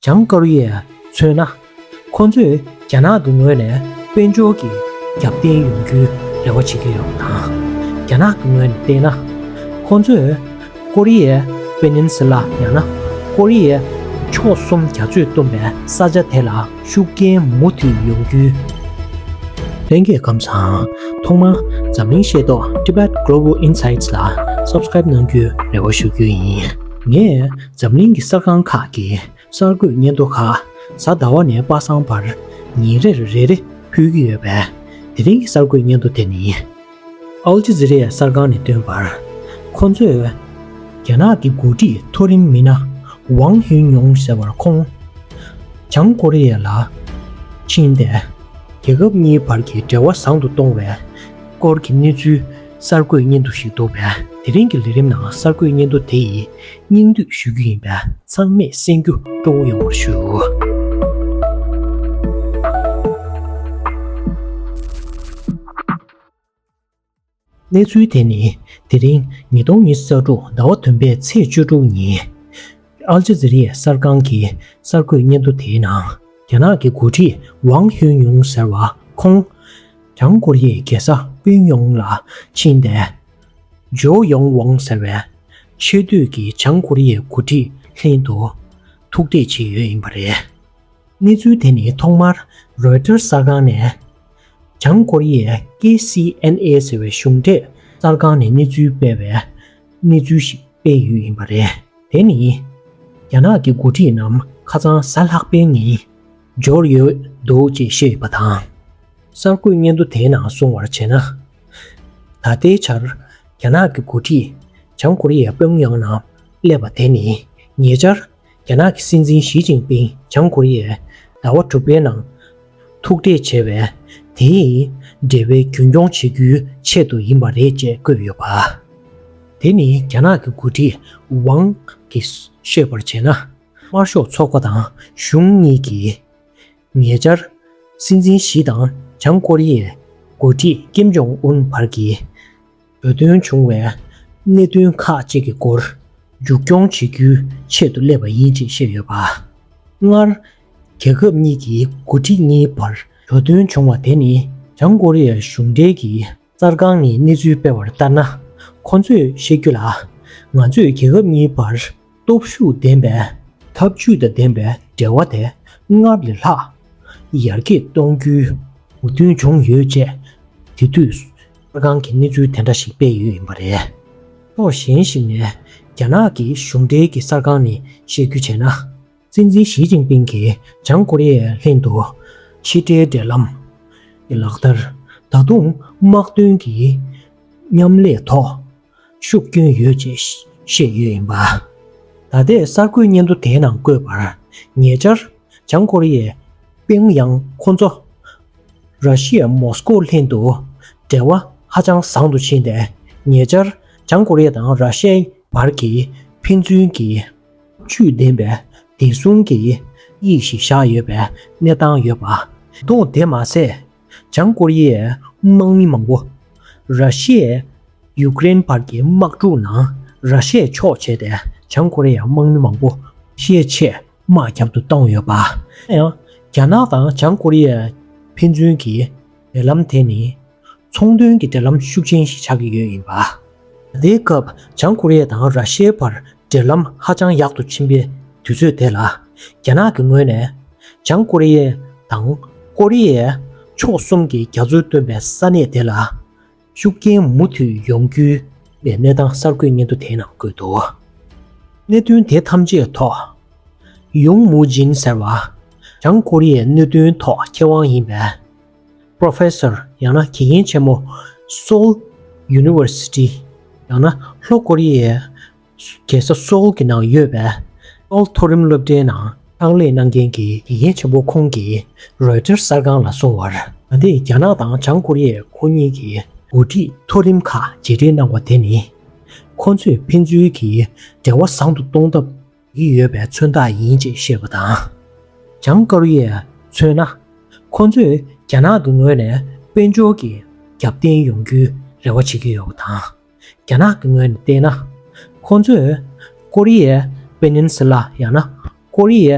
བྱང་དཀར་ཡས་མཚོན་ན་ཁོ་ཚོས་རྒྱ་ནག་གི་ངོས་ནས་དཔལ་འབྱོར་གྱི་རྒྱབ་རྟེན་ཡོང་རྒྱུའི་རེ་བ་བྱེད་ཀྱི་ཡོད་པ་དང། རྒྱ་ནག་གི་ངོས་ནས་བལྟས་ན། ཁོ་ཚོས་ཀོ་རི་ཡའི་པེ་ནིན་སི་ལཱ་ཡང་ན་ཀོ་རི་ཡའི་ཕྱོགས་གསུམ་རྒྱ་མཚོས་བཏུམས་པའི་ས་ཆ་དེ་ལ་ཤུགས་རྐྱེན་མུ་མཐུད་ཡོང་རྒྱུའི་ལྷན་སྐྱེས་ཁམས་དང། ཐོག་མར་འཛམ་གླིང་ཤེས་རྟོགས Tibet Global Insights ལ Subscribe གནང་རྒྱུའི་རེ་བ་ཞུ་རྒྱུ་ཡིན། ངས་འཛམ་གླིང་གི་གསར་ཁང་ཁག་གི་གསར་འགོད་སྙན་ཐོ་ཁག་གཟའ་ཟླ་བ་ནས་པ་སངས་བར་ཉིན་རེར་རེ་རེ་ཕུལ་གྱི་ཡོད་པས་དེ་རིང་གི་གསར་འགོད་སྙན་ཐོ་དེ་ནི་ཨལ་ཇི་ཛི་རེ་ཡཱ་གསར་ཁང་ནས་བཏོན་པར་ཁོང་ཚོས། རྒྱ་ནག་གི་འགོ་ཁྲིད་མཐོ་རིམ་མི་སྣ་ཝང་ཧིན་ཡོང་ཟེར་བར་ཁོང་བྱང་ཀོ་རི་ཡ་ལ་ཕྱིན་ཏེ། རྒྱལ་ཁབ་གཉིས་བར་གྱི་འབྲེལ་བ་བཟང་དུ་གཏོང་བའི་སྐོར་གྱི་གནས་ཚུལ་གསར་འགོད་སྙན་ཐོ་ཞིག་འདུག་པས་དེ་རིང་གི་ལས་རིམ་ནང་གསར་འགོད་སྙན་ཐོ་དེ་ཡིས་སྙིང་བསྡུས་ཞུ་རྒྱུ་ཡིན་པས་ཚང་མས་གསན་རྒྱུ་སྤྲོ་བོ་ཡོང་བར་ཞུ། གནས་ཚུལ་དེ་ནི་དེ་རིང་ཉིས་སྟོང་ཉི་ས་དྲུག་ཟླ་བ་བདུན་པའི་ཚེས་བཅུ་དྲུག་ཉིན་ཨལ་ཇཱ་ཛི་རི་ཡའི་གསར་ཁང་གི་གསར་འགོད་སྙན་ཐོ་དེའི་ནང་རྒྱ་ནག་གི་འགོ་ཁྲིད་ཝང་ཧུན་ཡུང་ཟེར་བ་ཁོང། བྱང་ཀོ་རི་ཡའི་རྒྱལ་ས་པུན་ཡོང་ལ་ཕྱིན་ཏེ། ཇོ་ཡོང་ཝང་ཟེར་བས་ཆེས་མཐོའི་གི་བྱང་ཀོ་རི་ཡའི་འགོ་ཁྲིད་ལྷན་དུ་ཐུག་འཕྲད་བྱས་ཡོད་ཡིན་པ་རེད། གནས་ཚུལ་དེ་ནི་ཐོག་མར་རོའི་ཏེར་གསར་ཁང་ནས་བྱང་ཀོ་རི་ཡའི KCNA ཟེར་བའི་གཞུང་འབྲེལ་གསར་ཁང་ནས་གནས་ཚུལ་སྤེལ་བའི་གནས་ཚུལ་ཞིག་སྤེལ་ཡོད་ཡིན་པ་རེད། དེ་ནི་རྒྱ་ནག་གི་འགོ་ཁྲིད་རྣམས་ཁ་ཚང་ཟ་ལྷག་པའི་ངན། འབྱོར་ཡོད་འདུག་ཅེས་བཤད་པ་དང། གསར་འགོད་སྙན་ཐོ་དེའི་ནང་སོང་བར་བྱས་ན། ད་ལྟའི་ཆར་རྒྱ་ནག་གི་འགོ་ཁྲིད་བྱང་ཀོ་རི་ཡའི་པེའུ་ཡང་ན་སླེབས་པ་དེ་ནི་ཉེ་ཆར་རྒྱ་ནག་གི་སྲིད་འཛིན་ཞི་ཅིང་པིང་བྱང་ཀོ་རི་ཡའི་ཟླ་བ་དྲུག་པའི་ནང་ཐུག་འཕྲད་བྱས་བས་དེའི་འབྲེལ་བའི་རྒྱུན་སྐྱོང་བྱེད་རྒྱུའི་ཆེད་དུ་ཡིན་པ་རེད་ཅེས་བཀོད་ཡོད་པ། དེ་ནི་རྒྱ་ནག་གི་འགོ་ཁྲིད་ཝང་གིས་ཤོད་པར་བྱས་ན། དམར་ཤོག་ཚོགས་པ་དང་གཞུང་གཉིས་ཀྱིས་ཉེ་ཆར། སྲིད་འཛིན་ཞི་དང་བྱང་ཀོ་རི་ཡའི་འགོ་ཁྲིད་ཀེམ་ཇོང་ཨུན་བར་གྱི་འབོད་སྟོན་བྱུང་བའི་གནད་དོན་ཁག་ཅིག་གི་སྐོར་མཇུག་སྐྱོང་བྱེད་རྒྱུའི་ཆེད་དུ་སླེབས་པ་ཡིན་ཅེས་བཤད་ཡོད་པ། སྔར། རྒྱལ་ཁབ་གཉིས་ཀྱི་འགོ་ཁྲིད་གཉིས་བར་འགྲོ་དོན་བྱུང་བ་དེ་ནི་བྱང་ཀོ་རི་ཡའི་གཞུང་འབྲེལ་གྱི་གསར་ཁང་ནས་གནས་ཚུལ་སྤེལ་བར་ལྟར་ན། ཁོང་ཚོས་བཤད་རྒྱུ་ལ། ང་ཚོས་རྒྱལ་ཁབ་གཉིས་བར་སྟོབས་ཤུགས་ལྡན་པའི། འཐབ་ཇུས་དང་ལྡན་པའི་འབྲེལ་བ་དེ་སྔར་ལས་ལྷག་ཡར་རྒྱས་གཏོང་རྒྱུའི། མོས་མཐུན་བྱུང་ཡོད་ཅེས་དེ་དུས་གསར་ཁང་གིས་གནས་ཚུལ་དེ་འདྲ་ཞིག་སྤེལ་ཡོད་ཡིན་པ་རེད། ཕྱོགས་གཞན་ཞིག་ནས་རྒྱ་ནག་གི་གཞུང་འབྲེལ་གྱི་གསར་ཁང་ནས་བཤད་རྒྱུ་བྱས་ན། སྲིད་འཛིན་ཞི་ཅིང་པིང་གིས་བྱང་ཀོ་རི་ཡའི་ལྷན་དུ་ཕྱི་དྲིལ་འབྲེལ་ལམ་གྱི་ལག་བསྟར་ད་དུང་དམག་དོན་གྱི་མཉམ་ལས་ཐོག་ཤུགས་བསྐྱོན་ཡོད་ཅེས་བཤད་ཡོད་ཡིན་པ། ད་ལྟའི་གསར་འགོད་སྙན་ཐོ་དེའི་ནང་བཀོད་པར་ཉེ་ཆར་བྱང་ཀོ་རི་ཡས་པིང་ཡང་ཁོ་ཚོ་ར་ཤི་ཡའི་མོ་སི་ཀོ་ལྷན་དུ་འབྲེལ་བ་ཧ་ཅང་བཟང་དུ་ཕྱིན་ཏེ་ཉེ་ཆར་བྱང་ཀོ་རི་ཡ་དང་ར་ཤི་ཡའི་བར་གྱི་ཕན་ཚུན་གྱི་ཆོས་བདེན་པའི་བདེ་སྲུང་གི་དབྱིག་གཞི་བཞག་ཡོད་པའི་གནས་སྟངས་ཡོད་པ། དང་དེ་མ་ཟད་བྱང་ཀོ་རི་ཡའི་དམག་མི་མང་པོ་ར་ཤི་ཡས་ཡུ་ཀེ་རེན་བར་གྱི་དམག་འཁྲུག་ནང་ར་ཤི་ཡས་ཕྱོགས་བྱས་ཏེ་བྱང་ཀོ་རི་ཡའི་དམག་མི་མང་པོ་ཤི་ཆེད་དམག་རྒྱབ་ཏུ་བཏང་ཡོད་པ། ཡང་རྒྱ་ནག་དང་བྱང་ཀོ་རི་ཡའི་ཕན་ཚུན་གྱི་འབྲེལ་ལམ་དེ་ནི། ཚོང་དོན་གྱི་འབྲེལ་ལམ་ཤུགས་ཆེན་ཞིག་ཆགས་ཀྱི་ཡོད་ཡིན་པ། དེའི་སྐབས་བྱང་ཀོ་རི་ཡ་དང་ར་ཤི་ཡའི་བར་འབྲེལ་ལམ་ཧ་ཅང་ཡག་ཏུ་ཕྱིན་པའི་དུས་ཚོད་དེ་ལ། རྒྱ་ནག་གི་ངོས་ནས་བྱང་ཀོ་རི་ཡ་དང་ཀོ་རི་ཡའི་ཕྱོགས་གསུམ་གྱི་རྒྱ་མཚོའི་སྟོན་པའི་ས་གནས་དེ་ལ་ཤུགས་རྐྱེན་མུ་མཐུད་ཡོང་རྒྱུའི་གནས་སྟངས་གསར་འགོད་སྙན་ཐོ་དེའི་ནང་བཀོད་འདུག་གནད་དོན་དེ་ཐམས་ཅད་ཐོག། ཡུང་མུའུ་ཇིན་ཟེར་བ། བྱང་ཀོ་རི་ཡའི་གནད་དོན་ཐོག་མཁས་དབང་ཡིན་པས། Professor། ཡང་ན་དགེ་རྒན་ཆེན་མོ། Seoul University། ཡང་ན་ལྷོ་ཀོ་རི་ཡའི་རྒྱལ་ས Seoul གྱི་ནང་ཡོད་པའི Seoul མཐོ་རིམ་སློབ་གྲྭའི་ནང་ཕྱག་ལས་གནང་མཁན་གྱི་དགེ་རྒན་ཆེན་པོ་ཁོང་གིས་རོའི་ཏེར་གསར་ཁང་ལ་སོང་བར། ད་ལྟའི་རྒྱ་ནག་དང་བྱང་ཀོ་རི་ཡས་ཁོ་གཉིས་ཀྱི་འགོ་ཁྲིད་མཐོ་རིམ་ཁག་བརྗེ་སྒྲིག་གནང་བ་དེ་ནི། ཁོ་ཚོས་ཕན་ཚུན་གྱི་འབྲེལ་བ་བཟང་དུ་གཏོང་ཐབས་ཡིད་ཡོད་པའི་མཚོན་རྟགས་ཡིན་ཅེས་བཤད་པ་དང། བྱང་དཀར་རུ་ཡས་མཚོན་ན། ཁོང་ཚོས་རྒྱ་ནག་གི་ངོས་ནས་དཔལ་འབྱོར་གྱི་རྒྱབ་རྟེན་ཡོང་རྒྱུའི་རེ་བ་བྱེད་ཀྱི་ཡོད་པ་དང། རྒྱ་ནག་གི་ངོས་ནས་བལྟས་ན། ཁོང་ཚོས་ཀོ་རི་ཡའི Peninsula ཡང་ན་ཀོ་རི་ཡའི་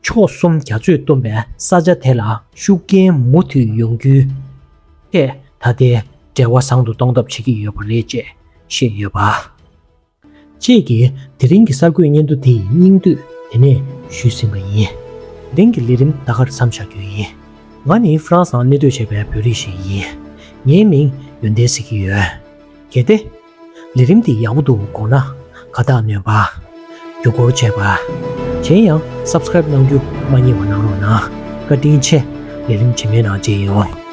ཕྱོགས་གསུམ་རྒྱ་མཚོས་བཏུམས་པའི་ས་ཆ་དེ་ལ་ཤུགས་རྐྱེན་མུ་མཐུད་ཡོང་རྒྱུའི་ཐད་ད་ལྟའི་འབྲེལ་བ་བཟང་དུ་གཏོང་ཐབས་བྱེད་ཀྱི་ཡོད་པ་རེད་ཅེས་བཤད་ཡོད་པ། ཅེས་ཀྱིས་དེ་རིང་གི་གསར་འགོད་སྙན་ཐོ་འདི་ཡི་སྙིང་བསྡུས་དེ་ནས་ཞུས་ཟིན་པ་ཡིན། དེང་གི་ལས་རིམ་ད་གར་མཚམས་བཞག་རྒྱུ་ཡིན། ང་ནི་ཧྥ་རན་སང་གནས་སྡོད་བྱས་པའི་བོད་རིགས་ཤིག་ཡིན། ངའི་མིང་ཡོན་ཏན་ཟེར་གྱི་ཡོད། གལ་ཏེ། ལས་རིམ་འདི་ཡག་པོ་འདུག་དགོངས་ན། ཁ་བཏགས་ནོན་པ། བརྒྱུད་སྐོར་བྱས་པ། གཞན་ཡང Subscribe གནང་རྒྱུ་མ་རྙེད་པ་གནང་རོགས་གནང། བཀའ་དྲིན་ཆེ། ལས་རིམ་ཇེ་དམན་ནང་བརྗེ་ཡོང།